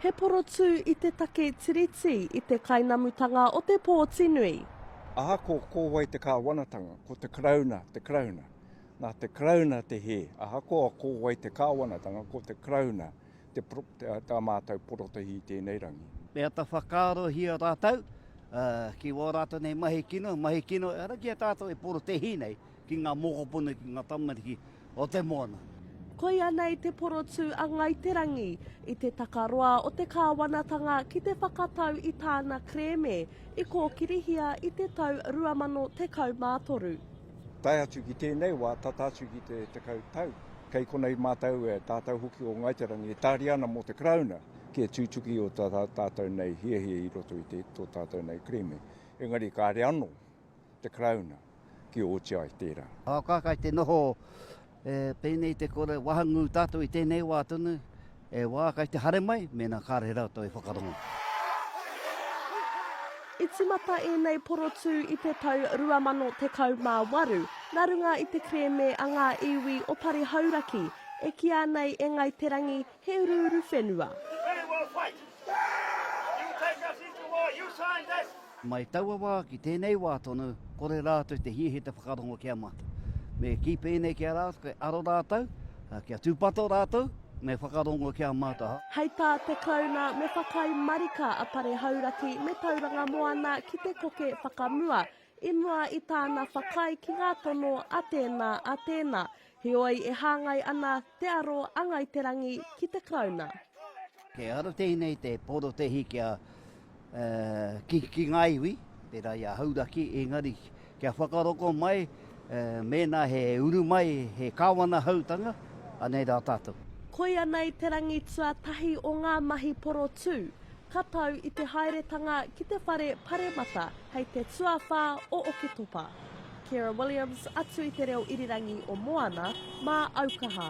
He porotū i te take Tiriti i te kainamutanga o te pōtinui. Aha ko, ko wai te kāwanatanga? Ko te Karauna, te Karauna. Nā te Karauna te hē. Ahakoa ko wai te kāwanatanga, ko te Karauna te, te, tā mātou porotahi i tēnei rangi. Me ata whakaarohia rātou uh, ki wā rātou nei mahi kino, mahi kino, ara ki a tātou e porotehi nei. Ki ngā mokopuna, ki ngā tamariki o te moana. Koia nei te porotū a Ngāi Te Rangi i te takaroa o te kāwanatanga ki te whakatau i tāna kerēme i kōkirihia i te tau 2013. Tae atu ki tēnei wā, tata atu ki te tekau tau, kei konei mātou e tātou hoki o Ngāi Te Rangi e tāria ana mō te Karauna ki te tutuki o tā tātou nei hiahia i roto i tō tātou nei kerēme. Engari kāre anō. te Karauna ki o oti ai tērā. Aoka kai te noho e pēnei te kore wahangū tātou i tēnei wā tonu, e wā kai te hare mai mēnā kāre rātou e whakarongo. I tīmata ēnei porotū i te tau 2018 nā runga i te kerēme a ngā iwi o Pari Hauraki e kīia nei e Ngāi Te Rangi He uruuru whenua. We will fight! You take us into war, you signed this! Mai taua wā ki tēnei wā tonu, kore rātou te hiahia te whakarongo ki a mātou. Me kī pēnei ki a rātou, kei aro rātou, ā, kia tūpato rātou, me whakarongo ki a mātou. Hei tā te Karauna me whakaae marika a Pare Hauraki me Tauranga Moana ki te koke whakamua I mua i tāna whakaae ki ngā tono a tēnā, a tēnā, heoi e hāngai ana te aro a Ngāi Te Rangi ki te Karauna. Kei aro tēnei te porotehi kia kikiki ngā iwi, pērā i a Hauraki, engari kia whakaroko mai mēnā he uru mai, he Kāwana Hautanga, anei rā tātou. Koia nei te rangi tuatahi o ngā mahi porotū. ka tau i te haeretanga ki te whare paremata hei te tuawhā o Oketopa. Kira Williams atu i te reo irirangi o Moana mā Aukaha.